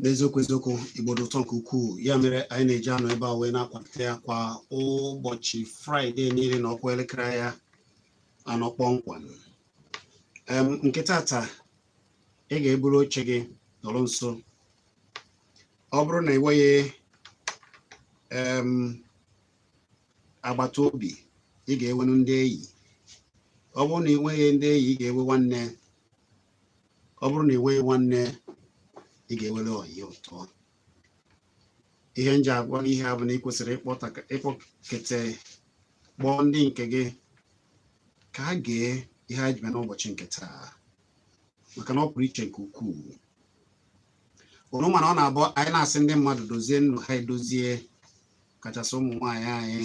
n'eziokwu eziokwu igbo dị ụtọ nke ukwuu ya mere anyị na-eji anọ ebe a wee na-akwalite ya kwa ụbọchị fraịde niile na ọkwa elekere ya anọ kpọmkwem nke tata ị ga-eburu oche gị nọrọ nso ọ bụrụ na ị nweghị agbata obi ị ga-enwenu ndị enyi ọ bụrụ na ị nweghị ndị enyi ị ga-enwe nwanne ọ bụrụ na ị nweghị nwanne ị ga-enwere ọyị ụtọ ihe m ji agwa gị ihe a bụ na ị kwesịrị ịkpọkete kpọọ ndị nke gị ka ha gee ihe a ji bịa n'ụbọchị nke taa maka na ọ pụrụ iche nke ukwuu unu ma na ọ na-abụ anyị na-asị ndị mmadụ dozie ndụ ha edozie kachasị ụmụ nwaanyị anyị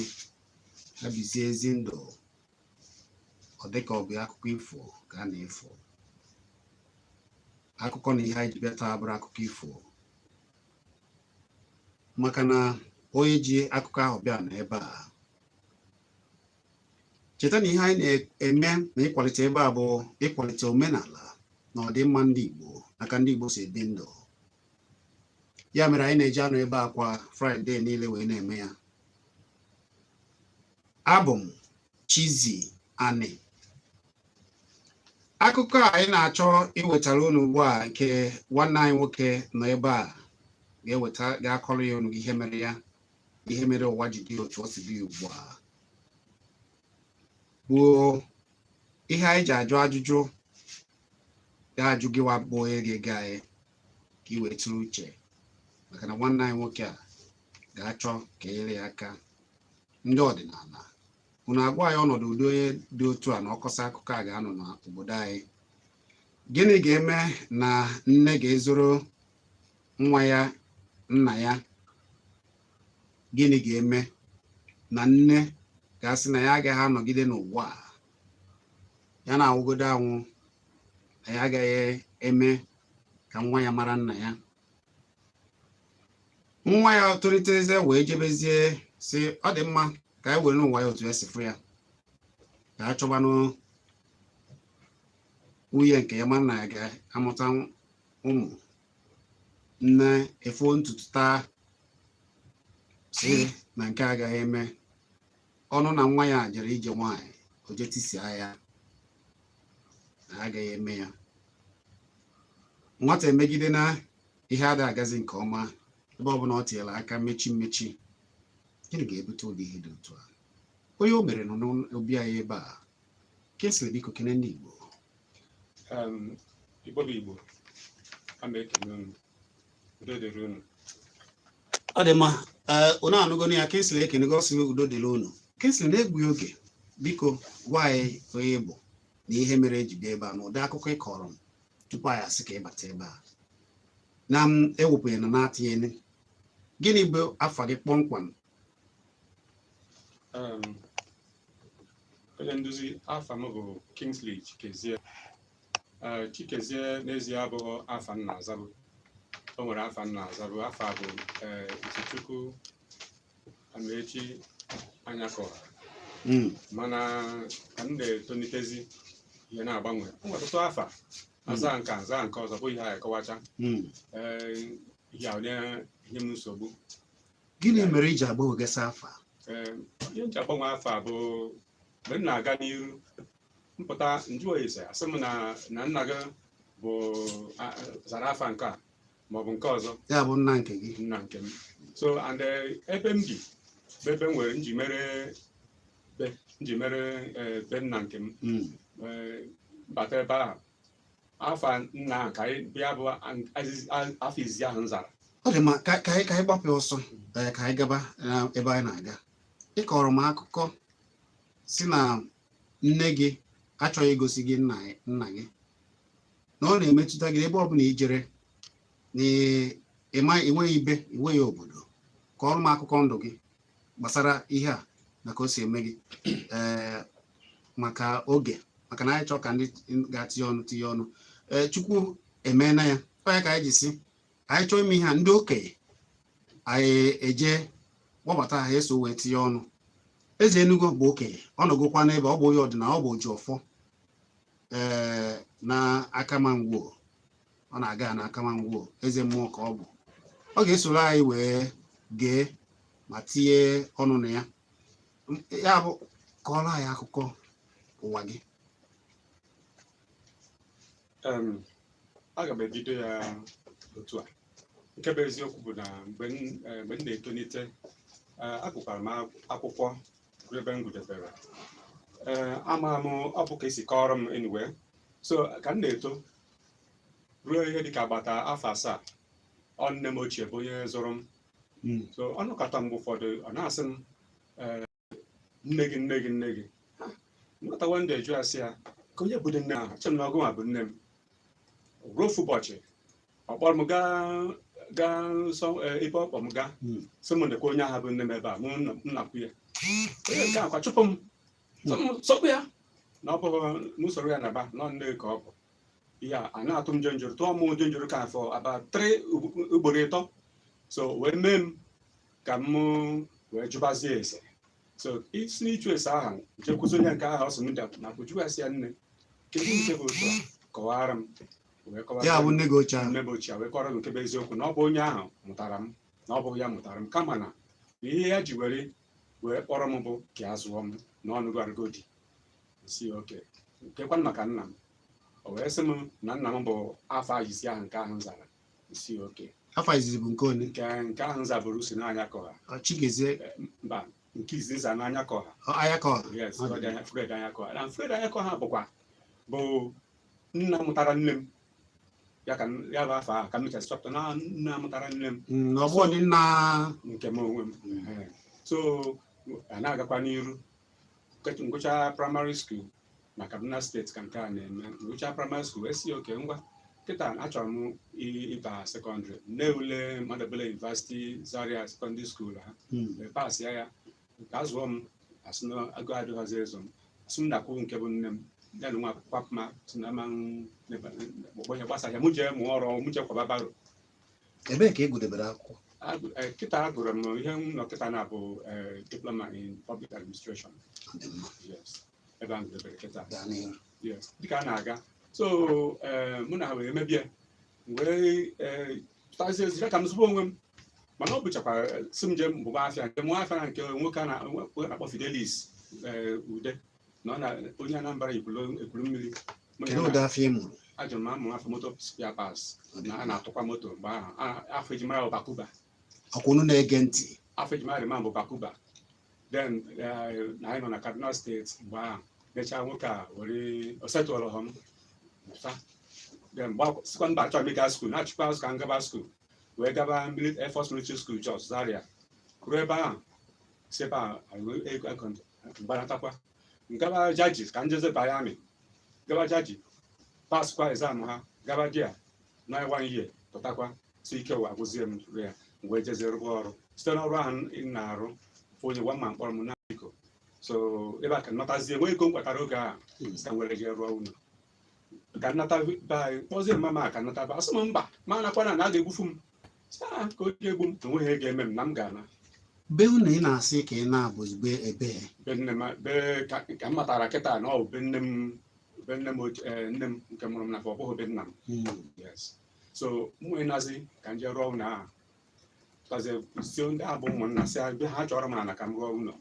ha bizie ezi ndụ ọ dịka ọ bụ akụkọ ifo ka a na-efo akụkọ na ihe anyị ji bịa taa abụrọ akụkọ ifo maka na onye ji akụkọ ahụ bịa nọ ebe a cheta na ihe anyị na-eme na ịkwalite ebe a bụ ịkwalite omenala na ọdịmma ndị Igbo na ka ndị Igbo si ebi ndụ ya mere anyị na-eji anọ ebe a kwa fraịde niile wee na-eme ya abụ m Chizzy Ani akụkọ a anyị na-achọ iwetara unu ugbu a nke nwanne anyị nwoke nọ ebe a ga-eweta ga-akọrọ ya unu ihe mere ya ihe mere ụwa ji dị otu o si dị ugbu a bụ ihe anyị ji ajụ ajụjụ ga-ajụ gịwa bụ onye ga-ege anyị ka ị wee tụrụ uche maka na nwanne anyị nwoke a ga-achọ ka e nyere ya aka ndị ọdịnala unu agwa anyị ọnọdụ ụdị onye dị otu a na ọ kọsịa akụkọ a ga-anọ n'obodo anyị gịnị ga-eme na nne ga-ezoro nwa ya nna ya gịnị ga-eme na nne ga-asị na ya agaghị anọgide n'ụwa a ya na-anwụgodu anwụ na ya agaghị eme ka nwa ya mara nna ya nwa ya tolitezie wee jebezie sị ọ dị mma ka ya werenụ ụwa ya otu ya si fụ ya ka a chọbanụ nwunye nke ya ma na ya ga-amụta ụmụ nne efoo ntutu taa sị na nke a agaghị eme ọ nụ na nwa ya jere ije nwaanyị o je tisia ya na agaghị eme ya nwata emegide na ihe ada agazi nke ọma ebe ọbụla ọ tinyere aka mmechi mmechi gịnị ga-ebute ụdị ihe dị otu a onye o mere nọ n'obi anyị ebe a Kingsley biko kene ndị Igbo Igbo bụ Igbo a na-ekene unu udo dịrị unu ọ dị mma unu anụgo ya Kingsley ekenego ọ sị udo dịrị unu Kingsley na-egbughị oge biko gwa anyị onye ị bụ na ihe mere eji bịa ebe a na ụdị akụkọ ị kọọrọ m tupu anyị asị ka ị bata ebe a na m ewepụghị na na-atinyeghị gịnị bụ afa gị kpọmkwem um, onye nduzi afa m bụ Kingsley Chikezie uh, Chikezie n'ezie abụghị afa m na-azabu o nwere afa m na-azabu afa bụ uh, Izuchukwu Amaechi Anyakọha mana ka m na-etonitezi ihe na-agbanwe o nwere ọtụtụ afa hmm. aza nke a azaa nke ọzọ bụ ihe a akọwacha hmm. eh, ihe onye ihe m nsogbu gịnị mere iji agbanwegasị afa? Ee, ihe m ji agbanwe afa bụ mgbe m na-aga n'iru m pụta m jụọ ese asị m na na nna gị bụ a- zara afa nke a maọbụ nke ọzọ ya bụ nna nke gị nna nke m so and eh, ebe m bi bụ ebe m nwere m ji mere be m ji mere eh, be nna nke m Mm. Eh, bata ebe ahụ afa nna ka anyị bịa bụ afa izizi ahụ m zara ọ dị mma ka ka anyị ka anyị gbapụ ọsọ ee, ka anyị gaba na ebe anyị na-aga ị kọọrọ m akụkọ sị na nne gị achọghị igosi gị nna ya- nna gị na ọ na-emetụta gị ebe ọbụla i jere na ị- ị ma- ị nweghị ibe ị nweghị obodo kọọrọ m akụkọ ndụ gị gbasara ihe a na ka o si eme gị ee maka oge maka na anyị chọọ ka ndị ga-atinye ọnụ tinye ọnụ ee chukwu emeela ya ọ ya ka anyị ji sị anyị chọọ ime ihe a ndị okenye anyị eje kpọbata ha eso wee tinye ọnụ eze enugo bụ okenye ọ nọgokwa n'ebe ọ bụ onye ọdịnala ọ bụ oji ọfọ ee na Akama Ngwo ọ na-aga na Akama Ngwo eze mmụọ ka ọ bụ ọ ga-esoro anyị wee gee ma tinye ọnụ na ya ya bụ kọọrọ anyị akụkọ ụwa gị aga m ebido ya otu a nke bụ eziokwu bụ na mgbe m eh, na-etonite eh, agụkwara m akwụkwọ ebe m gụdebere eh, ama m ọ bụ ka esi kọọrọ m anyway so ka m na-eto ruo ihe dịka agbata afọ asaa ọ nne m ochie bụ onye zụrụ m Mm. so ọ nọkata mgbe ụfọdụ ọ na-asị m "Ee, nne gị nne gị nne gị Ha, nwata wanda ajụ asị ya ka onye bụdị nne ahụ che m na ọ gị nwa bụ nne m ruo ofu ụbọchị ọ kpọrọ m gaa gaa nsọ ee, ebe ọ kpọ m gaa Mm. sị m nekwa onye ahụ bụ nne m ebe a mụ nna- m nakwu ya onye nke a kwa chụpụ m sịkwa ya na ọ bụghị m soro ya naba na ọ nne ka ọ bụ ihe a na-atụ m jenjoro tụọ mụ jenjoro ka afọ about three ugboro ịtọ so wee mee m ka m wee jụbazie ese so e si n'ịjụ ese ahụ jekwuzie onye nke ahụ ọ sị m dapụ nakwu jụ ya sị ya nne kedu nke bụ otu a kọwara m wee kọwara ya bụ nne gị ochie ahụ nne m ochie wee kọrọ m nke bụ eziokwu na ọ bụ onye ahụ mụtara m na ọ bụghị ya mụtara m kama na ihe ya ji were wee kpọrọ m bụ ka a zụọ m na ọ nụgharịgo di m sị okay kekwanụ maka nna m o wee sị m na nna m bụ afa izizi ahụ nke ahụ m zara m sị okay afa izizi bụ nke one nke nke ahụ m zaburu sị na Anyakọha Ọ Chigozie mba nke izizi m za na Anyakọha Anyakọha yes Ọ dị. Fred Anyakọha na Fred Anyakọha bụkwa bụ nna mụtara nne m ya ka m- ya bụ afa ahụ ka m mechazị chọpụta na nna mụtara nne m Mm, na ọ bụghịdị nna nke m onwe m Ehe. so a na-agakwa n'iru Nke- ngụcha primary school na Kaduna State ka nke a na-eme ngụcha primary school wee sị okay ngwa kịta achọrọ m i- ịba secondary m nee ule Ahmadu Bello University Zaria secondary school ha Mm, wee pasịa ya ka a zụọ m a sị na ego adịghịzi ịzụ m a sị m nakwu nke bụ nne m ya nwa akwapụ m asị na ama ọgbanye gbasa ya mụ jee mụọ ọrụ mụ jee kwaba barrow ebee ka ị gụdebere akwụkwọ Agụ- eh, kịta agụrụ m ihe m nọ kịta na-abụ eh, diploma in public administration Ọ dị mma. yes ebe a gụdebere kịta gaa n'ihu Yes, dịka a na-aga so eh, mụ na ha wee mebie m wee eh, pụtazie ezi ka m zụba onwe m mana ọ bụchakwa eh, sị m je mụba afịa njee mụọ afịa na nke nwoke a na- nwoke a na-akpọ Fidelis eh, Ude na ọ na onye Anambra Ekwulu Ekwulummiri Mụ na ya kedu na- ụdị afịa ị mụrụ ejere m ịmụ afịa moto spare parts na a na-atụkwa moto mgbe ahụ A- afa e ji mara bụ Bakuba ọkwa unu na-ege ntị afa e ji mara the man bụ Bakuba then eh, na anyị nọ na Kaduna State mgbe ahụ mechaa nwoke a were o settle-rọ m pụta then mgbe akwụ- sịkwa mba achọrọ m ịga school nachikwa azụ ka m gaba school wee gaba mili- air force military school jos zaria ruo ebe ahụ si ebe ahụ anyị wee ego- ego ntị, mgbanatakwa ngaba jaji ka njeze banye army gaba jaji paskwa exam ha gaba there nọ one year pụtakwa so ike ụwa agwụzie m rụ ya m wee jezie rụba ọrụ site n'ọrụ ahụ m na-arụ onye gwa mama kpọrọ m na biko so ebe a ka m natazie nwee ego m kpatara oge a ka m were jee rụọ ụlọ ka nnata be anyị kpọzie mama ka nnata be a sị m mba m anakwana na a ga-egbufu m Sị, "Ah, ka o ji egbu m enweghị ihe ga-eme m na m ga-ana be unu ị na-asị ka ị na-abụ be ebe be nne m be ka ka m matara kịta na ọ bụ be nne m be nne m oche- eh, nne m nke mụrụ m na ọ bụghị be nna m yes so m wee nazie ka m jee rụọ ụlọ ahụ tazie sị ndị a bụ ụmụnna si be ha chọọrọ m ala ka m rụọ ụlọ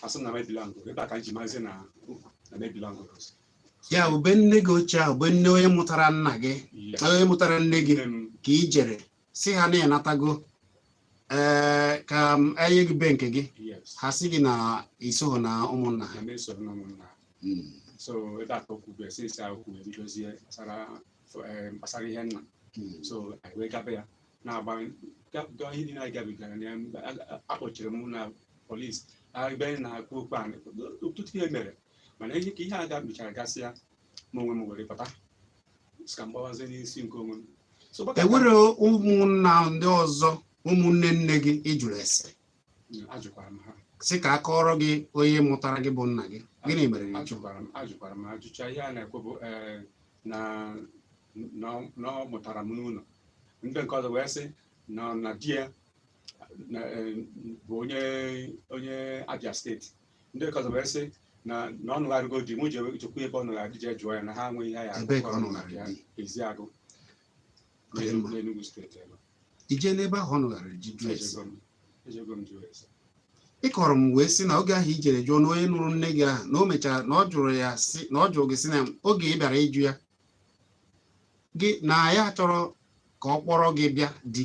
a sị m na mebilango ebe a ka m ji mazi na na mebilango ya bụ be nne gị ochie ahụ be nne onye mụtara nna gị onye mụtara nne gị ka i jere sị ha na ị natago ee ka e nye gị be nke gị ha sị gị na i soghị na ụmụnna ha so ebe a ka okwu bụ esi esi ahụ kwuo ebidozie gbasara eh, gbasara ihe nna Hmm. so anyị wee gaba ya na-agba ga- ga- ihe niile anyị gabigara na ya mgbe a- a- a kpọchiri m na polisi ebe anyị na-akpọ okwu anyị ọtụtụ ihe mere mana ihe ka ihe a gabichara gasịa ma onwe m were bata sị ka m gbawazie n'isi nke onwe m so gbaka- enwere ụmụnna ndị ọzọ ụmụnne nne gị ị jụrụ ese Mm, ajụkwara m ha sị ka a kọọrọ gị onye mụtara gị bụ nna gị gịnị mere na ịjụ ajụkwara m ajụkwara m ajụcha ihe a na-ekwu bụ ee na na ọ mụtara m n'ụlọ ndị nke ọzọ wee sị na na di ya eh, bụ onye onye Abia steeti ndị nke ọzọ wee sị na na ọ nụgharịgo di mụ jekwu ebe ọ nụgharịrị jee jụọ ya na ha nweghị ihe ya Eziagụ n'Enugu steeti ebe i jee n'ebe ahụ ọ nụgharịrị jee jụọ ese Ejego m- ejego m jụọ ese. ị kọrọ m wee sị na oge ahụ i jere jụọ na onye nụrụ nne gị ahụ na o mechara na ọ jụrụ ya sị na ọ jụrụ gị sị na oge ị bịara ịjụ ya gị na ya chọrọ ka ọ kpọrọ gị bịa di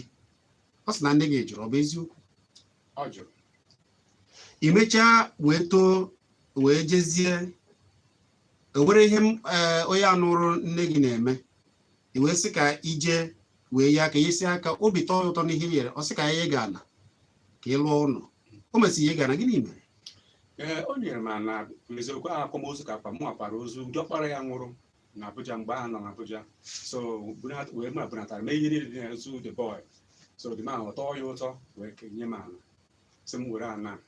ọ sị na nne gị jụrụ ọ bụ eziokwu Ọ jụrụ. i mechaa wee too wee jezie e nwere ihe m- eh, onye ahụ nụrụ nne gị na-eme i wee sị ka i jee wee ya aka i nyesịa aka obi tọọ ya ụtọ n'ihe i nyere ọ sị ka ya nye gị ana ka ị lụọ ụlọ o mesịrị nye gị ana gịnị mere ee o nyere m ana eziokwu ahụ akwamozu ka akwa mụ akwara ozu diọkpara ya nwụrụ na Abuja mgbe ahụ nọ na Abuja so bunata- wee m bunatara mee ihe niile dị n'ozu the boy so the man ọ tọọ ya ụtọ wee kenye m ana sị m were ana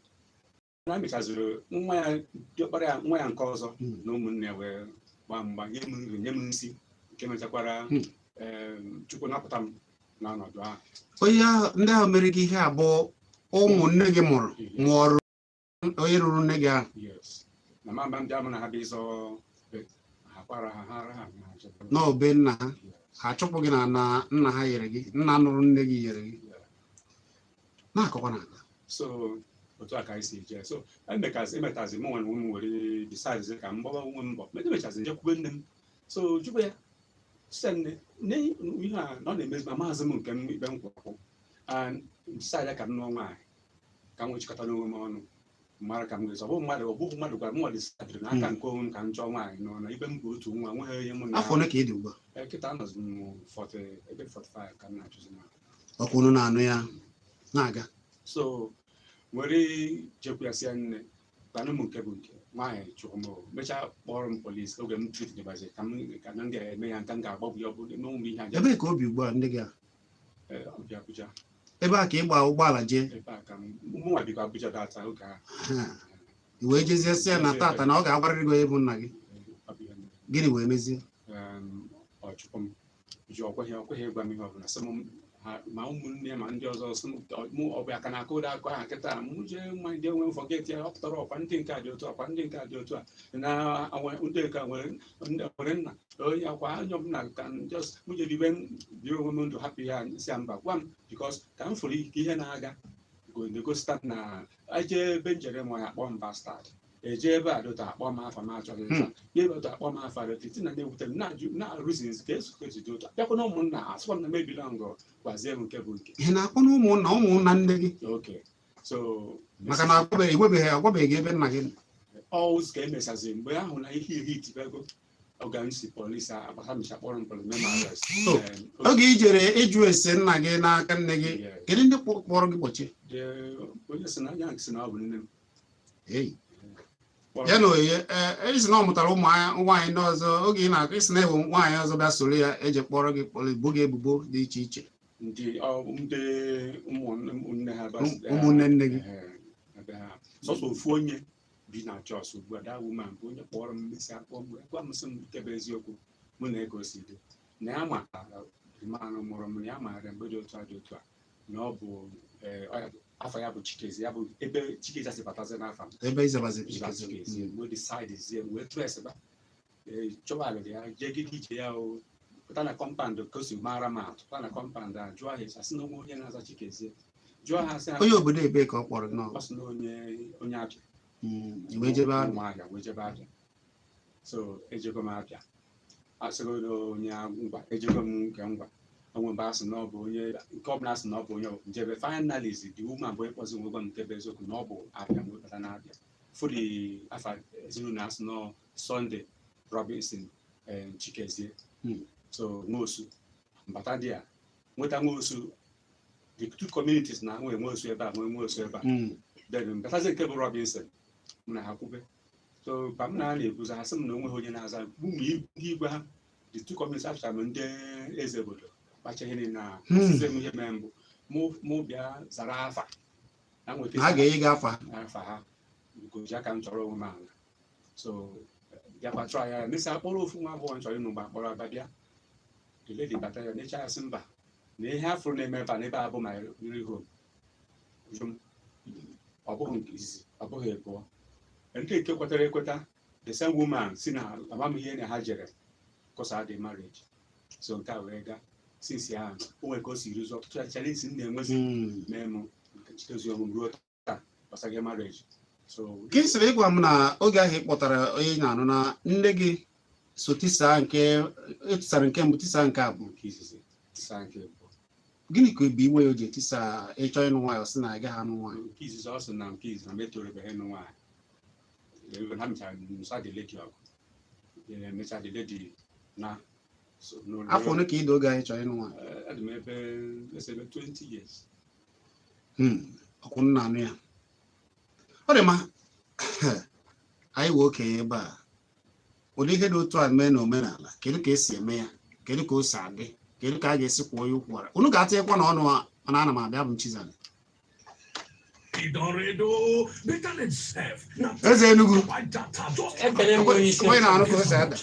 na a mechaziri nwa ya diọkpara ya nwa ya nke ọzọ Hmm. na ụmụnne wee gbaa mgba nye m nri nye m nsi nke mechakwara Hmm. em, chukwu napụta m n'ọnọdụ ahụ onye ahụ ndị ahụ mere gị ihe a bụ ụmụ nne gị mụrụ mụọrụ onye nụrụ nne gị ahụ yes na mama ndị a mụ na ha bịa ịzọ be ha kwara ha ha ara ha na achọta m. n'ọ be nna ha Yes. ha chụpụ gị n'ana nna ha nyere gị nna nụrụ nne gị nyere gị na-akọkwa na-aga so otu a ka anyị si jee so emekazi emetazi mụ nwa na ụmụ were decide ka m gbawa onwe m mbọ ma emechazi m jekwube nne m so jụba ya sị nne nne ihe a na ọ na-emezi ma maazị m nke m ikpe m kwụrụ and decide ka m nụọ nwaanyị ka m nwee chịkọta n'onwe m ọnụ mara ka m nwezi ọ bụ mmadụ ọ bụghị mmadụ gwara m nwa decidere n'aka nke onwe m ka m chọọ nwaanyị nụọ n'ebe m bụ otu nwa nweghị ihe mụ na afọ ole ka ị dị ugbu a Eh, kịta anọzi m 40 ebe 45 ka m na-achụzi nwaanyị ọkwa unu na-anụ ya na-aga so m were jekwasịa nne tanụ m nke bụ nke nwaanyị chụrụ m mechaa kpọrọ m polisi oge m threat dịbazi ka m ka na ndị a eme ya ka m ga-agbagbu ya ọ bụ n'ụmụ m ihe aja ebee ka o bi ugbu a nne gị a Eh, o bi Abuja ebe a ka ị gba ụgbọala jee ebe a ka m mụnwa bikwa Abuja that oge ahụ Ha. i wee jezie sị ya na taata na ọ ga-agwarịrị gị onye bụ nna gị ọ bụ ihe mere. gịnị wee mezie Em, ọ chụpụ m ji o kweghị o kweghị ịgwa m ihe ọbụla sị m ha- ma ụmụnne ma ndị ọzọ sị m ọ- mụ ọ bụ ya ka na-akụ ụda akụ aha kịta mụ jee nwa ndị enwe forget ya ọ pụtara ọkwa ndị nke a dị otu a, ọkwa ndị nke a dị otu a na awa- ndị nke a nwere ndị nwere nna onye akwa anya ọbụla ka m just mụ jere ibe biri onwe m ndụ hapụ ya sị ya mba gwa m because ka m fụrụ ike ihe na-aga go- na-egosita na eje ebe m jere ma ya kpọọ m bastard eje ebe a dota akpọ m afa m achọghị nza n'ebe otu akpọ m afa dota iti na na-ewute m na-ajụ na-arụzizi ka eso ka ejide otu bịakwa na ụmụnna asịkwa m na mebila ngọ gwazie m nke bụ nke ihe na-akpọ na ụmụnna ụmụnna nne gị okay so maka na agwabeghị enwebeghị agwabeghị gị ebe nna gị nọ. ọwụz ka emesaziri mgbe ahụ na ihe iri itibego oge m si polisi agbasa mecha kpọrọ m polisi mee m arrest So, Em, otu- oge i jere ịjụ ese nna gị n'aka nne gị Yeah. kedu ndị kpọ- kpọrọ gị kpọchie The onye sị na ya sị na ọ bụ nne m ya na onye ị sị na ọ mụtara ụmụ nwaanyị ndị ọzọ oge ị na-akọ ị sị na enwe nwaanyị ọzọ bịa soro ya eji kpọrọ gị kpọrọ ibo gị ebubo dị iche iche ụmụnne nne gị sọsọ ofu onye bi na Jos ugbu a that woman bụ onye kpọrọ m mesịa kpọ mgbe gwa m sị m nke bụ eziokwu mụ na ego si dị na ya ma man mụrụ m ya maara mgbe dị otu a dị otu a na ọ bụ eh, ọ ya bụ- afa ya bụ chikezie ya bụ ebe chikezie si batazi n'afa m ebe izabazi Iba chikezie Chikezie, Mm. wee decide zie m wee traceba chọwa area ya jegide ije ya o pụta na compound ka o si mara m atụ pụta na compound a jụọ ha esi asị na onwe onye na-aza chikezie jụọ ha asị ha onye obodo ebee ka ọ kpọrọ nnọọ ọ sị na onye onye abịa Mm, i wee jebe abịa ụmụahịa wee jebe abịa so ejego m abịa asịgodo onye ngwa ejego m nke ngwa onwe mgbe asị na ọ bụ onye nke ọbụla asị na ọ bụ onye m jebe finally the woman bịa kpọzie m wee gwa m nke bụ eziokwu na ọ bụ abịa m wee bata na abịa fụ ụdị afa ezinụlọ asị na sunday robinson eh, chikezie hmm. so nwosu m bata there nweta nwosu the two communities na nwee nwosu ebe a nwee nwosu ebe a hmm. then m batazie nke bụ robinson mụ na ha kwube so ka m na ha na-ekwuzi ha sị m na onweghị onye na-aza bụ mgbe i- ndị igwe ha the two communities after m ndị eze obodo kpacha ihe niile ahụ Hmm. asịzi m ihe mee mbụ mụ mụ bịa zara afa na nweta ha ga-enye gị afa afa ha goji aka m chọrọ onwe m ala so bịakwa chọọ ya mesịa akpọrọ ofu nwa agbọghọ m chọrọ ịnụ mgbe akpọrọ aba bịa the lady bata ya n'eche asị mba na ihe afụrụ na-eme ebe a n'ebe a bụ my real home ọ bụghị nke izizi ọ bụghị abụọ ndị nke kwetara ekweta the same woman si na amamihe na ha jere kọsa the marriage so nke a wee gaa since ahụ o nwere ka o si rụzi ọtụtụ challenge m na-enwezi Mm. mee m nke chitezi ọmụm ruo taa gbasara marriage so ka ị sịrị ịgwa m na oge ahụ ị kpọtara onye ị na-anụ na nne gị so tisaa nke etisara nke mbụ tisaa nke abụọ nke izizi tisaa nke abụọ gịnị ka ọ bụ iwe ya o ji etisa ị chọọ ịnụ nwaanyị ọ sị na ị gaghị anụ nwaanyị nke izizi ọ sị na nke izizi na m etorubeghị ịnụ nwaanyị Ee, ha mechara nụsa the lady ọgụ Ee, mechaa the lady naa so n'ụlọ- afọ ole ka ị dị oge ahụ ị chọrọ ịnụ nwaanyị Ee, adị m ebe let's ebe 20 years Hmm, ọkwa unu na-anụ ya ọ dị mma anyị nwere okenye ebe a ụdị ihe dị otu a mee na omenala kedu ka esi eme ya kedu ka o si adị kedu ka a ga-esi kwụọ ya ụkwụ ara unu ga-atịnyekwa na ọnụ mana ana m abịa bụ Chizzy eze Enugu onye na-anụ ka o si ada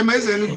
ema eze Enugu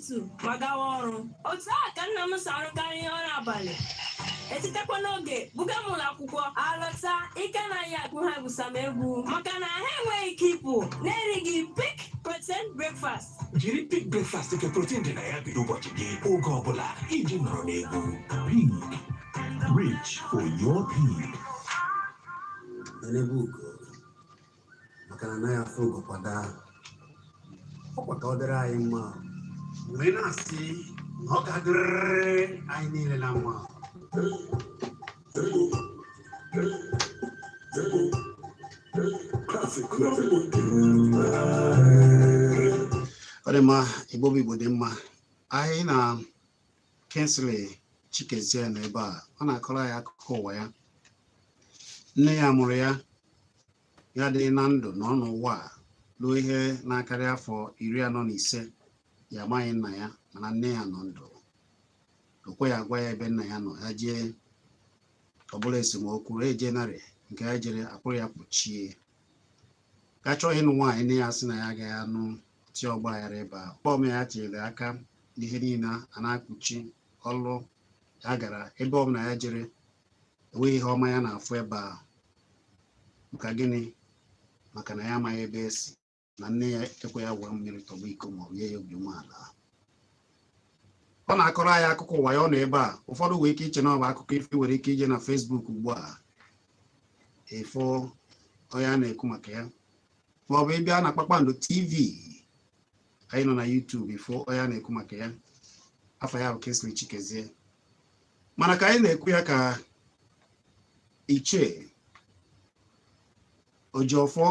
otu ma gawa ọrụ otu a ka nna m si arụkarị ihe ọrụ abalị etetakwa n'oge buga m ụlọ akwụkwọ alọta ike anaghị agwụ ha egwusa m egwu maka na ha enweghị ike ịpụ na-erighị peak protein breakfast jiri peak breakfast nke protein dị na ya bido ụbọchị gị oge ọbụla iji nọrọ n'egwu peak reach for your peak maka na anaghị afụ ugo kwa daa ọkwa ka ọ dịrị anyị mma wee na-asị na ọ ga-adịrịrị anyị niile na mma ọ dị mma igbo bụ igbo dị mma anyị na Kingsley Chikezie nọ ebe a ọ na-akọrọ anyị akụkọ ụwa ya nne ya mụrụ ya dị na ndụ nọ n'ụwa ruo ihe na-akarị afọ iri anọ na ise ya amaghị nna ya mana nne ya nọ ndụ o kweghị agwa ya ebe nna ya nọ ya jee ọbụla esemokwu eje narị nke ya jere akpụrụ ya kpuchie ka chọọ ịnụ nwaanyị nne ya sị na ya agaghị anụ ti ọgba aghara ebe ọbụla ya tinyere aka na ihe niile a na-akpuchi ọlụ ya gara ebe ọbụla ya jere enweghị ihe ọma ya na-afụ ebe a maka gịnị maka na ya amaghị ebe esi na nne ya ekweghị ya ṅụọ mmiri tọgbọ iko ma ọ nye ya obi umeala ọ na-akọrọ anyị akụkọ ụwa ya ọ nọ ebe a ụfọdụ nwere ike iche na ọ bụ akụkọ ifo nwere ike ije na Facebook ugbu a ị fụ onye a na-ekwu maka ya maọbụ ị bịa na kpakpando tv anyị nọ na YouTube ị fụ onye a na-ekwu maka ya afa ya bụ Kingsley Chikezie mana ka anyị na-ekwu ya ka ichie Ojiọfọ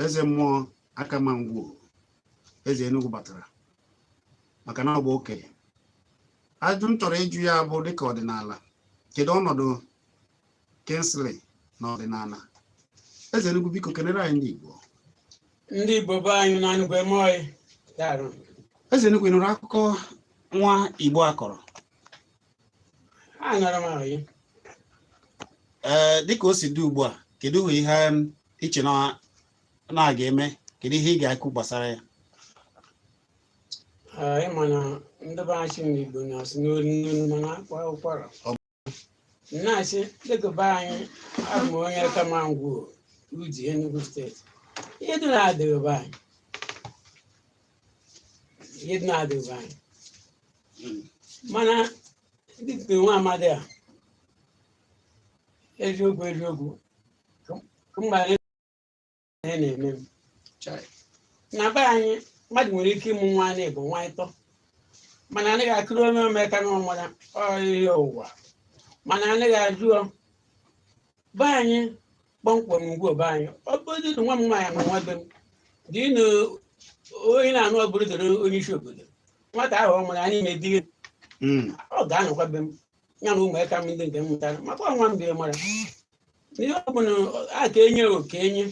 eze mmụọ Akama Ngwo eze Enugu batara maka na ọ bụ okenye ajụ m chọrọ ịjụ ya bụ dịka ọdịnala kedu ọnọdụ Kingsley n'ọdịnala eze Enugu biko kenere anyị ndị Igbo ndị Igbo be anyị na ngwe mọị dara eze Enugu ị nụrụ akụkọ nwa Igbo akọrọ anụrụ m ahụ ya ee dịka o si dị ugbu a kedu ihe um, i che na a ga-eme kedu ihe ị ga-ekwu gbasara ya ị ma na ndị be anyị sị na Igbo na-asụ n'olu n'olu mana a kwaa ụkwara na-asị dịka be anyị abụ m onye Akama Ngwo Udi Enugu steeti ihe dị na-adịghị be anyị ihe dị na-adịghị be anyị mana dịka nwa amadi a eziokwu eziokwu ka m gbara ihe na-eme m Chai. na be anyị mmadụ nwere ike ịmụ nwa anyị bụ nwa ịtọ mana anaghị akụrụ onye omeka na ọmara ọhịa ụwa mana anaghị ajụ ọ be anyị kpọmkwem Ngwo be anyị ọ bụrụ na nwa m nwaanyị mụọ nwa be m dị na onye na-anụ ọ bụrụ doro onye isi obodo nwata ahụ ọ mụrụ anyị na-edi ya Mm. ọ ga-anọkwa be m ya na ụmụaka m ndị nke m mụtara maka ọ nwa m bịa mara ihe ọ bụla a ka enye o ka enye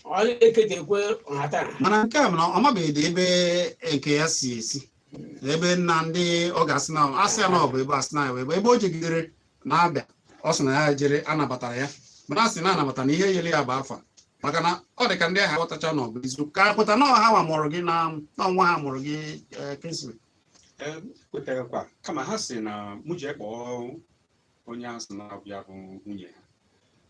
ọ eketekwe nhatanha mana nke a bụ na ọ mabeghị ebe nke ya si esi ebe nna ndị ọ ga-asị na asị ya na ọ bụ ebe asị na ya bụ ebe ebe o jegidere na-abịa ọ sị na ya jere anabatara ya mana a sị na anabata na ihe e nyere ya bụ afa maka na ọ dị ka ndị ahụ aghọtacha na ọ bụ eziokwu ka kweta na ọ ha nwa mụrụ gị na na nwa ha mụrụ gị eh, Kingsley Ee, m kwetara kwa kama ha sị na mụ jee kpọọ onye ahụ sị na ọ bụ ya bụ nwunye ha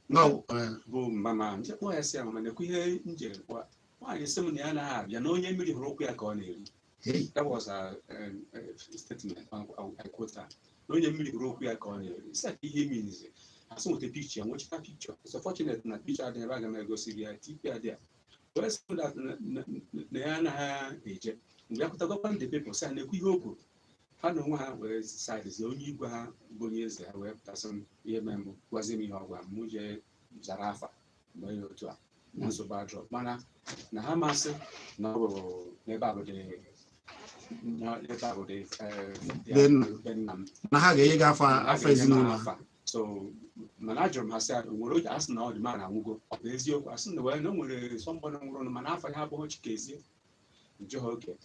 No, eh, bụ mama ahụ m jee kpọọ ya sị ya mama nekwa ihe m jere gwa nwaanyị sị m na ya anaghị abịa na onye mmiri hụrụ ụkwụ ya ka ọ na-eri hey, that was a, um, a statement I, I, I quote her. na onye mmiri hụrụ ụkwụ ya ka ọ na-eri sị ka ihe means a sị m weta picture m wechita picture it's unfortunate na picture adịghị ebe a a ga m egosi gị ya tipi adị ya wee sị m that na- na- na ya anaghị eje m bịa pụta gwakwa ndị people sị ha nekwa ihe o kwuru ha na onwe ha wee sidezi onye igwe ha bụ onye eze ha wee pụta sị m ihe mere mbụ gwazi m ihe ọ gwara m mụ jee zara afa m bịa otu a na nsogbu adịrọ mana na ha ma sị na ọ bụ n'ebe a bụ dị na- n'ebe a bụ dị eh, dị- Be nna. be nna m na ha ga-enye gị afa Ha afa ga-enye m ezinụlọ ha afa. so mana ajụrụ m ha sị o nwere oge a sị na ọ dị mara anwụgo ọ bụ eziokwu a sị na ee na o nwere somebody nwụrụnụ mana afa ya abụghị Chikezie Njọkụ okay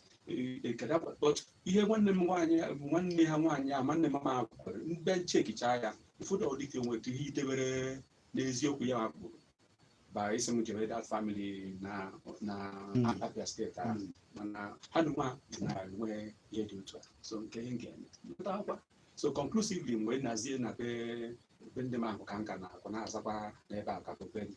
but ihe nwanne m nwaanyị bụ nwanne ha nwaanyị a nwanne mama ha kwukwere mgbe m checkịcha ya ụfọdụ ọ dị ka o nwere ihe idebere n'eziokwu ya ma kwuru ba isi m jere that family na na Abia State ahụ mana ha nụnwa na-enwe ihe dị otu a so nke ihe nke mụta akwa so conclusively m wee nazie na be be ndị m ahụ ka m ka na-akwa na-azakwa n'ebe a ka bụ be gị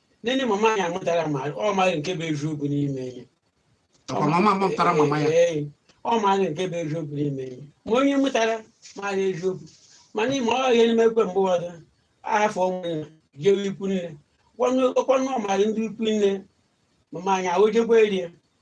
nne na mama ya amụtara ma ọ maghị nke bụ eziokwu n'ime ihe ọkwa mama mụtara mama ya Ee, ọ maghị nke bụ eziokwu n'ime ihe ma onye mụtara maghị eziokwu mana ị ma ihe na-emekwa mgbe ụfọdụ a hafụ ụmụnna jewe ikwu nne ọkwanụ ọ maghị ndị ikwu nne mama anyị ahụjekwa eri ya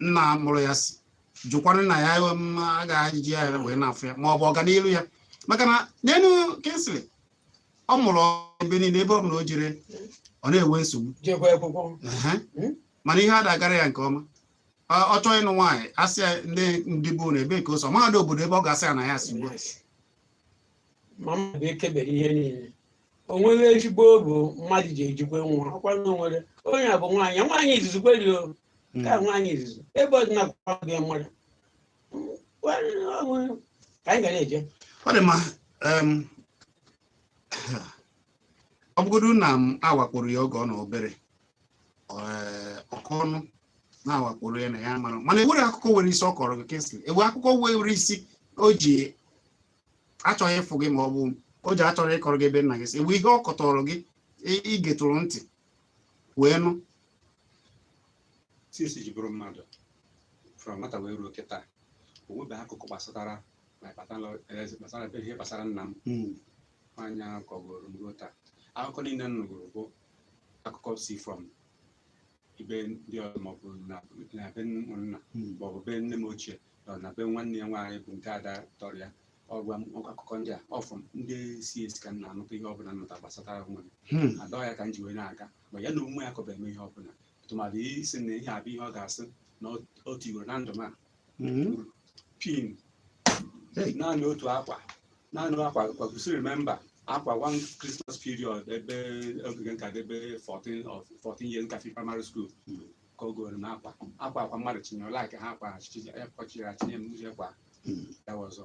nna mụrụ ya si jụkwara na ya agaghị ya wee na-afụ ya ma ọ bụ ọganihu ya maka na neenụ Kingsley ọ mụrụ ebe niile ebe ọ bụla o jere ọ na-enwe nsogbu hmm? mana ihe ada agara ya nke ọma ọ chọọ ịnụ nwaanyị asị ya ndị ndị bụ na ebe ka o si ọ marọ obodo ebe ọ ga-asị ya na ya si ugbu a o nweghị ezigbo obi mmadụ ji ejikwa nwa ọkwa na o nwere onye a bụ nwaanyị nwaanyị izizi kweri o ka nwaanyị izizi ebe ọdịna gị mmadụ ka anyị ga na-eje ọ dị mma em, ọ bụgodu na m agwakporo ya oge ọ nọ obere ee, okwu ọnụ na-agwakporo ya na ya mara mana e nwere akụkọ nwere isi ọ kọrọ gị Kingsley e nwe akụkọ nwere isi o ji achọghị ịfụ gị ma ọ bụ o ji achọrọ ịkọrọ gị ebe nna gị si o nwe ihe ọ kọtọrọ gị i getụrụ ntị wee nụ since ji bụrụ mmadụ from nwata wee ruo kịta o nwebeghị akụkọ gbasatara gbasara ebe ihe gbasara nna m hmm. nwaanyị ahụ kọgoro m ruo taa akụkọ niile m nụgoro bụ akụkọ si from ebe ndị ọzọ maọbụ na na be ụmụnna Mm. maọbụ be nne m ochie na be nwanne ya nwaanyị bụ nke ada tọrọ ya ọ gwa m akụkọ ndị a ọfụ m ndị si esi ka m na-anụta ihe ọbụla m nụta gbasatara onwe m Hmm. ada ya ka m ji wee na-aga ma ya na onwe ya akọbeghị m ihe ọbụla tụmadị ịsị na ihe a bụ ihe ọ ga-asị na o- o tiwere na ndụ m a mhm. pin naanị otu akwa naanị akwa I could still remember akwa one Christmas period ebe oge m ka dị ebe 14 of 14 years nka fi primary school hmm. ka o goro m akwa akwa akwa mmadụ chinyere like ha akwa akwa chiri achinye m uche kwa ya ọzọ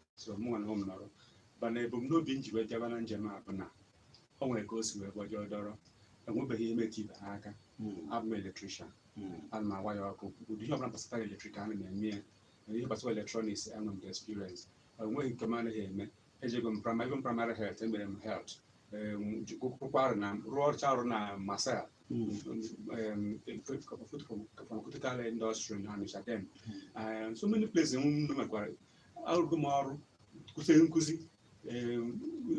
so mụnwa na onwe m nọrọ mana ebumnobi m ji wee bịaba na njem a bụ na o nwere ka o si wee gbajọọ dọrọ enwebeghị ihe metụ ibe ha aka abụ m electrician ana m a-wire ọkụ ụdị ihe ọbụla gbasatara electric ana m eme ya na ihe gbasara electronics enwe m the experience o nweghị nke m anaghị eme ejego m primary health emere m health kwara na rụọcha ọrụ na masel pharmaceutical industry na Onitsha dem so many places m mekwara arụgo m ọrụ kuzie nkuzi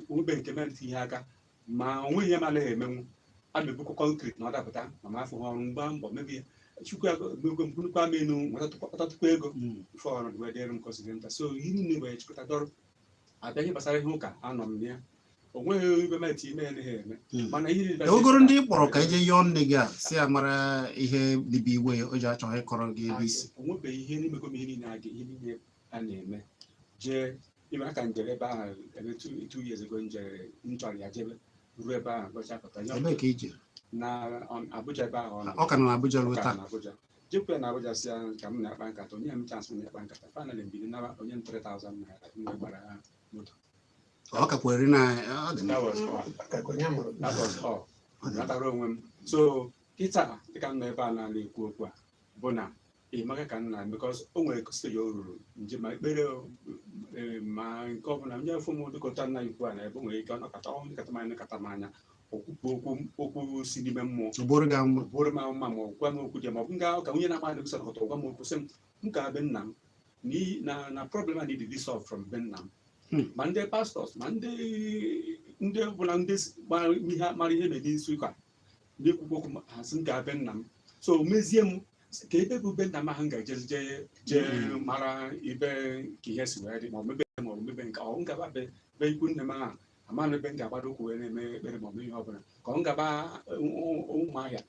o nwebeghị nke metụ ihe aka ma o nweghị ihe m anaghị emenwu ana m ebukwa concrete na ọ dapụta ma m afụghị ọrụ m gbaa mbọ m ebu ya chukwu agogwe mkpụrụkwa m enu nwetatụkwa ego ife ọrụ wee dịrị m kọziri nta so ihe niile wee chịkọta dọrọ abịa ihe gbasara ihe ụka anọ m ya ogoro ndị ị kpọrọ ka e jee yọọ nne gị a si ya mara ihe bibi iwe o ji achọghị ịkọrọ gị ebe i si o nwebeghị ihe emego m ihe niile aga ihe niile a na-eme jee even ka m jere ebe ahụ ebe two years ago m jere m chọrọ ya jebe ruo ebe ahụ gọcha pụta ebee ka i je na Abuja ebe ahụ ọ ka nọ na Abuja ruo taa jekwe na Abuja sị ya ka mụ na ya kpaa nkata o nye m chance na-akpa nkata finally m bilie naba o nye m 3000 naira mgbe gbara ha moto ọ kakwa eri na ọ dị That was all. Akakọ ya mụrụ That was all. ọ dị natara onwe m so kịta dịka m nọ ebe a na-ekwu okwu a bụ na ị maghị ka nna because o nwere stage o ruru m je ma ekpere o, eh, ma nke ọbụla ndị afọ m dịka otu nna ikwu a na ebe o nwere ike ọ nọkọta ọ nkata m anya nkata m anya okwukwu okwu okwu si n'ime mmụọ ọ bụrụ gị mma bụrụ m mma ma ọ gwa m okwu dị ma ọ bụ m gaa ụka onye na-ama adịghị sọrọ gwa m okwu sị m maka be nna m na na problem a need to be solved from be nna m Hmm. ma ndị pastọs ma ndị ndị ọbụla ndị s- gbara ihe mara ihe na-eme isi ụka ndị ekwukwu okwu ma- ha sị m gaa be nna m so o mezie m sị, ka ebe bụ be nna m ahụ m ga-ejezi jee jee Hmm. mara ibe ka ihe si wee dị ma ọ mebe ma ọ mebe nke ọ m gaba be be ikwu nne m ahụ amara ebe m ga-agbado ụkwụ wee na-eme ekpere ma ọ bụ ihe ọbụla ka ọ m gaba Ụmụahịa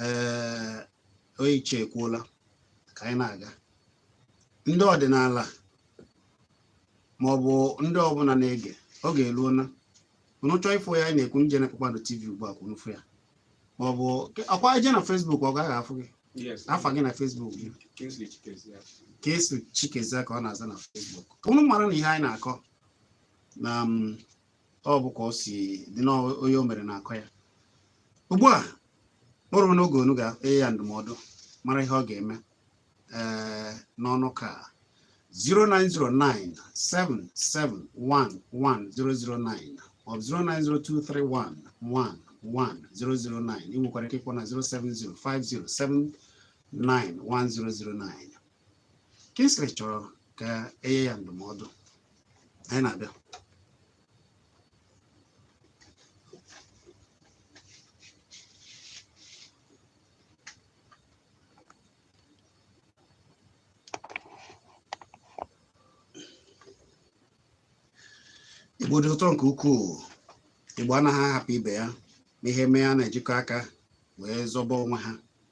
ee oyiche ekwuola ka anyị na-aga ndị ọdịnala ma ọ bụ ndị ọbụla na-ege ọ ga-eru na unu chọọ ịfụ ya anyị na-ekwu e jee na Kpakpando TV ugbu a ka unu fụ ya ma ọ bụ ọkwa e jee na Facebook ka a ga-afụ gị afa gị na Facebook gị Kingsley Chikezie ka ọ na-aza na Facebook unu mara na ihe anyị na-akọ na um, ọ bụ ka o si dị n'onye o mere na-akọ ya ugbu a o ruo n'oge unu ga-enye ya ndụmọdụ mara ihe ọ ga-eme ee eh, n'ọnụ ka 0909 7711009 or 09023111009 ị nwekwara ike ịkpọ na 07050791009 Kingsley chọrọ ka e nye ya ndụmọdụ anyị na-abịa Igbo dị ụtọ nke ukwuu Igbo anaghị ahapụ ibe ya n'ihe mee a na-ejikọ aka wee zọba onwe ha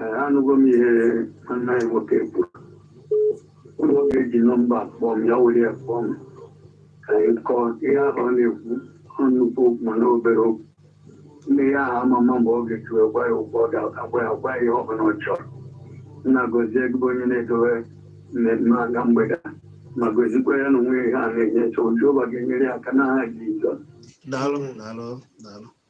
Ee, anụgo m ihe nwanne anyị nwoke kwuru ọ bụrụ ọ ga-eji nọmba kpọọ m ya were ya kpọọ m ka anyị kọọ ihe ahụ ọ na-ekwu ọ nnukwu okwu mana obere okwu nne ya ahụ ama m mgbe ọ ga-eji wee gwa ya okwu ọ ga-agwa ya gwa ya ihe ọ bụla ọ chọrọ nna gọzie gị bụ onye na-edowe mmemme a ka mgbede a, ma gozikwa ya na onwe ya ihe a na-enye nsogbu Jehova ga-enyere ya aka n'aha Jizọs daalụ daalụ daalụ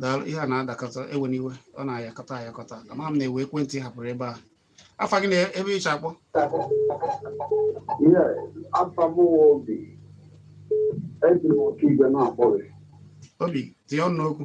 daalụ ihe a na-adakọta ewe n'iwe ọ na-ayakọta ayakọta ama m na-ewe ekwentị hapụrụ ebe a afa gị na ebe i si akpọ obi tinye ọnụ n'okwu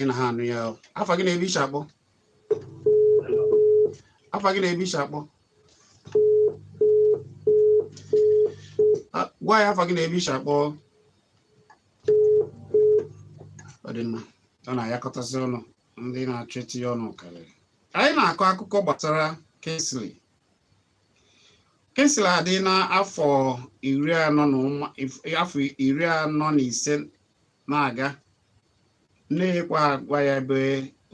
ị naghị anụ ya afa gị na ebe i si akpọ afa gị na ebe i si akpọ gwa anyị afa gị na ebe i si akpọ ọ dị mma ọ na-ayakọtasị ọnụ ndị na-achọ itinye ọnụ karịrị anyị na-akọ akụkọ gbasara Kingsley kwesịrị ịdị n'afọ iri anọ na ụma afọ iri anọ na ise na-aga nne ya ekwe agwa ya ebe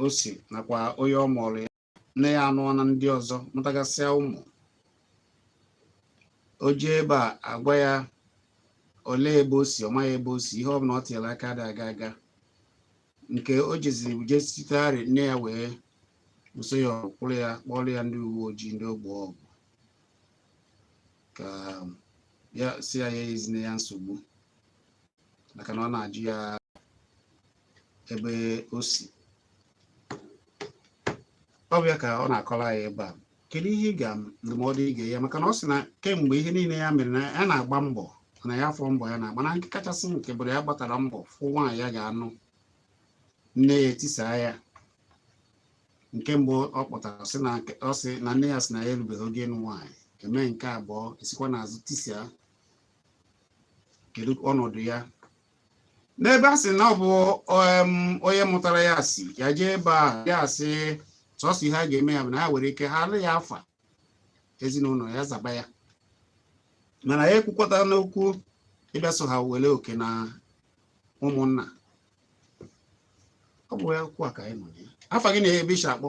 o si nakwa onye ọ mụrụ ya nne ya anụọna di ọzọ mụtagasịa ụmụ o jee ebe a agwa ya olee ebe o si ọ maghị ebe o si ihe ọ bụla ọ tinyere aka adị aga aga nke o jeziri je sitegharị nne ya wee buso ya ọkwụrụ ya kpọrọ ya ndị uwe ojii ndị ogbe ọgwụ ka ya sị ya ya ezine ya nsogbu maka na ọ na-ajụ ya ebe o si ọ bụ ya ka ọ na-akọrọ anyị ebe a kedu ihe ị ga ndụmọdụ ị ga-enye maka na ọ sị na kemgbe ihe niile ya mere na ya na-agba mbọ na ya afọ mbọ ya na-agba na nke kachasị nke bụrụ ya gbatara mbọ fụ nwaanyị ya ga-anụ nne ya etisaa ya nke mbụ ọ kpọtara sị na ọ sị na nne ya sị na ya erubeghị oge ịnụ nwaanyị e mee nke abụọ e sikwa n'azụ tisia kedu ọnọdụ ya n'ebe a sị na ọ bụ em, onye mụtara ya si ya jee ebe a ya sị sọsọ ihe a ga-eme ya bụ na ya nwere ike halụ ya afa ezinụlọ ya zaba ya mana ya ekwukwọtana okwu ịbịa so ha were oke n'ụmụnna ọ bụ ya okwu a ka anyị nọ ya afa gị na ebe i shi akpọ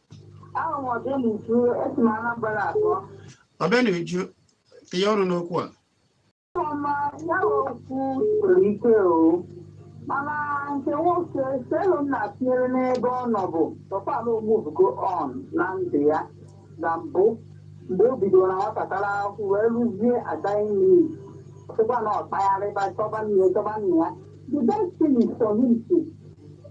Aha m Obianuju esi m Anambra akpọ. Obianuju tinye ọnụ n'okwu a Ọma ya bụ okwu siri ike o. Mana nke nwoke selu m na-atinyere n'ebe ọ nọ bụ ọ kaalụ ọ muvugo on na ndụ ya na mbụ mgbe o bidoro na nwatakịrị ahụ wee ruzie agaghị n'iyi ọsịkwa na ọ kpagharịba chọba nne ya chọba nne ya the best thing is for him to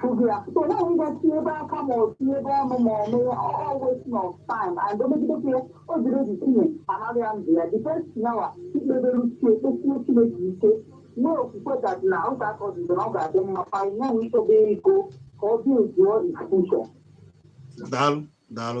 Fuzi ya. So now we got to ebe aka ma ọ si ebe ọnụ ma ọ mee all wasting of time and o megide ka ya o jiri obi tinye anaghị ya ndụ ya the best nawa ikpebere uche kpesie Chineke ike nwee okwukwe that na ọ ga-akọ ọdịdị na ọ ga-adị mma kwa ihe nwee ichebe ego ka ọ dị ezuo ife ọ chọ daalụ daalụ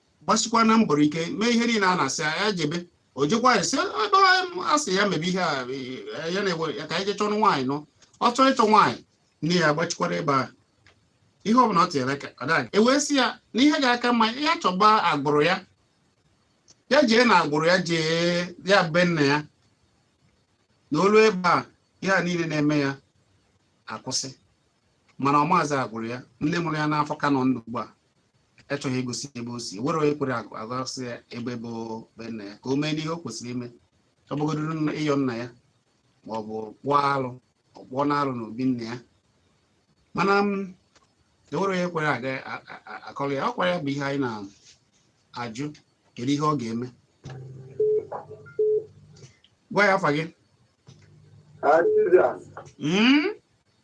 gbasikwa na mbọrọ ike mee ihe niile a na-asị ya jebe o jekwa ya sị ebe a sị ya mebe ihe a e, ya na-eme ya ka ya jee chọrọ nwaanyị nụọ ọ chọọ ịchọ nwaanyị nne ya gbachikwara ebe ahụ ihe ọ bụla ọ tinyere aka ọ gaghị e wee sị ya na ihe ga-aka mma ya chọba agbụrụ ya ya jee na agbụrụ ya jee ya be nna ya na o lue ebe a ihe a niile na-eme ya akwụsị mana ọ maazị agbụrụ ya nne mụrụ ya n'afọ ka nọ ndụ ugbu a achọghị igosi ebe o si enwere onye kwere akụ egosi ya ebe bụ be nna ya ka o mee n'ihe o kwesịrị ime ọ bụgodoro ịyọ nna ya ma ọ bụ kpụọ alụ ọ kpụọ na alụ n'obi nna ya mana m mm, enwere onye kwere aga akọrọ ya ọ kwa ya bụ ihe anyị na-ajụ kedu ihe ọ ga-eme gwa ya afa gị hmm?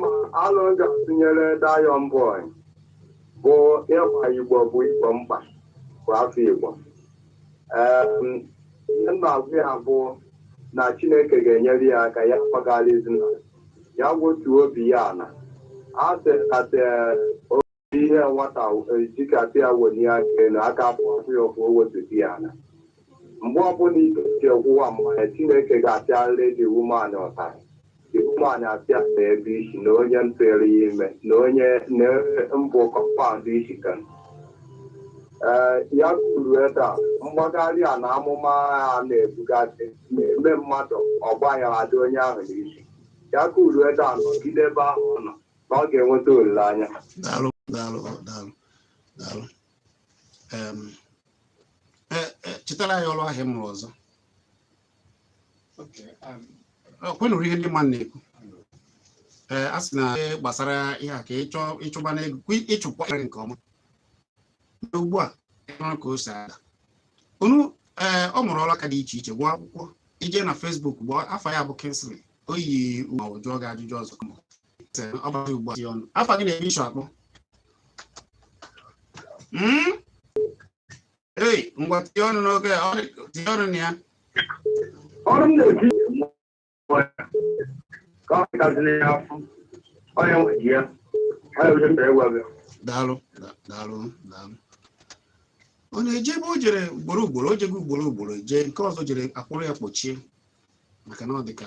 ma alo m ga-atụnyere Diamond Boy bụ ịgba Igbo bụ Igbo mkpa bụ afọ Igbo Em, ihe m na-agwa ya bụ na Chineke ga-enyere ya aka ya gbaghara ezinụlọ ya wetuo obi ya ala e jikata ihe nwata jikasịa welie aka elu aka afụ afụọ ya ụfụ o wetuo ya ala mgbe ọbụla ike ji ọgwụwa mmanya chineke ga-apịarịrị the woman ụtarị the woman apịa na ebe ị sị na onye tụrụ ya ime na onye na mbụ compound isi ka ee ya kwụrụ ebe a mgbagharị anya amụma a na-ebugasị na-eme mmadụ ọgbaghara adị onye ahụ n'isi ya kwụrụ ebe a nọgide ebe ahụ ọ nọ na ọ ga-enweta olileanya daalụ daalụ daalụ daalụ Em, e- e, chetara anyị ọrụ aka ị mụrụ ọzọ Okay, um, Ọ kwa ị nụrụ ihe ndị mmadụ na-ekwu ee a sị na ihe gbasara ihe a ka ịchọ ịchụba n'ego kwi- ịchụkwa ego nke ọma Mana ugbu a ịmara ka o si ada unu ee ọ mụrụ ọrụ aka dị iche iche gụọ akwụkwọ i jee na Facebook gụọ afa ya bụ Kingsley Oyi m jụọ gị ajụjụ ọzọ ọ bụzi ugbu a ọnụ afa gị na-eme isu akpọ Mm? ei ngwa tinye ọnụ n'oge ọ dị- tinye ọnụ na ya ọrụ m na-eti ka ọ pụtaziri ya afọ onye nwe ji ya onye onye mere gwa gị daalụ da- daalụ daalụ ọ na-eje ebe o jere ugboro ugboro o jego ugboro ugboro jee nke ọzọ jere a kpụrụ ya kpọchie maka na ọ dị ka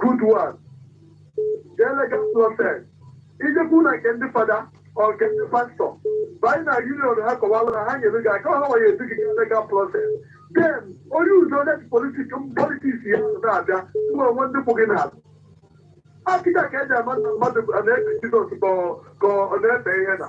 good one jee legal process ijekwu na nke ndị fada or nke ndị pastọ banye na union ha kọwara na ha nyere gị aka ha nwere edu gị gaa legal process then onye uzo net politic politics ya na-abịa mgbe o nwere ndị kwụ gị n'azụ akịka ka e ji ama na mmadụ na-efe jizọs ka ọ- ka ọ na-efe ihe na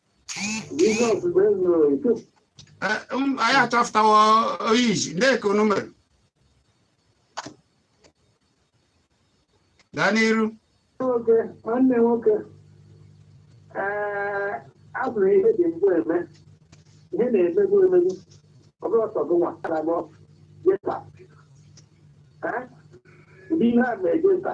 anyị achọpụtawo oyi iji na-eke unu mere gaa n'iru nwoke nwanne nwoke ee ọ bụrụ ihe dị mbụ eme ihe na-emegbu emegbu ọ bụrụ ọsọ gị nwa na mọ jeta ụdị ihe a na-eje nta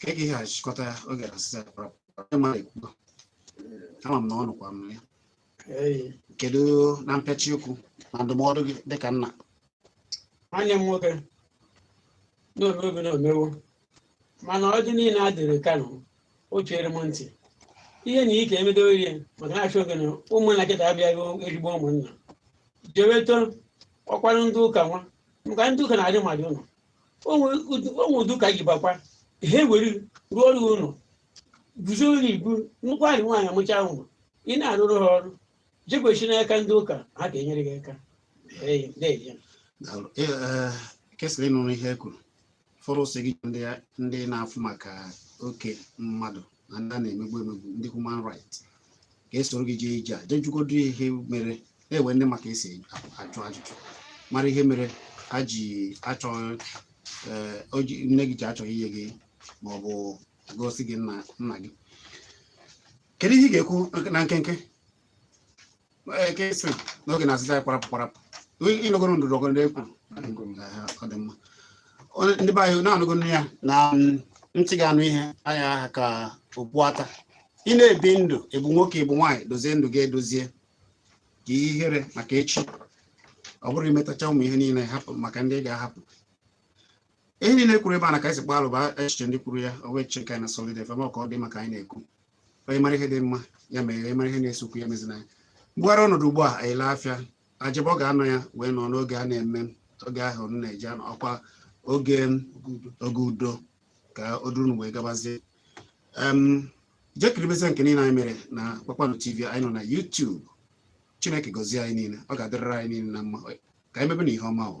ka ị ga achịkọta ya oge asịsa ama m na ọ nụkwa m ya kedu na mpịachi okwu na ndụmọdụ gị dịka nna nwanne m nwoke n'omeobi na omewo mana ọ dị niile a dịrị kano o chere m ntị ihe na ike emedo ihe maka na-achọ oge na ụmụnna kịta abịaghị ezigbo ụmụnna jeweto ọkwara ndị ụka nwa maka ndị ụka na-adị mmadụ ụlọ o nwe ụdị ụka ị bakwa ha ewere rụọ ọrụ ụlọ guzo ụlọ ibu nnukwu anyị nwaanyị amụcha nwa ị na-arụrụ ha ọrụ jekwechi n'aka ndị ụka ha ga-enyere gị aka kesịrị ịnụrụ ihe e kwuru fọrọ ọ sị gị ndị na-afụ maka oke mmadụ na ndị a na-emegbu emegbu ndị human right ga-esoro gị jee ije a jee jụgodu ya ihe mere na e nwe ndị ma ka e si ajụ ajụjụ mara ihe mere ha ji achọ ee, o ji- nne gị ji achọghị inye gị ma ọ bụ gosi gị nna nna gị kedu ihe ị ga-ekwu na nkenke ekesi n'oge na-asịsa kwarapụ kwarapụ ịnọgoro ndụrụ ọgụ ndị ekwuru ọ dị mma ndị be anyị unu anụgo ya na ntị ga-anụ ihe anaghị aha ka okpu ata ị na-ebi ndụ ị bụ nwoke ị bụ nwaanyị dozie ndụ gị edozie ka ihere maka echi ọ bụrụ ị metacha ụmụ ihe niile hapụ maka ndị ga-ahapụ ihe niile e kwuru ebe a na ka e si kpalụ bụ echiche ndị kwuru ya ọ wee cheka na solid fm ka ọ dị maka anyị na-ekwu onye mara ihe dị mma ya mere onye mara ihe na-ese okwu ya emezina ya mgbugharị ọnọdụ ugbu a anyị laa afịa ajebe ọ ga-anọ ya wee nọ n'oge a na-eme oge ahụ m na-eji anọ ọkwa oge oge udo ka o duru wee gabazie em jee kiribezie nke niile anyị mere na kpakpando tv anyị nọ na YouTube chineke gọzie anyị niile ọ ga-adịrịrị anyị niile na mma ka anyị mebe na ihe ọma o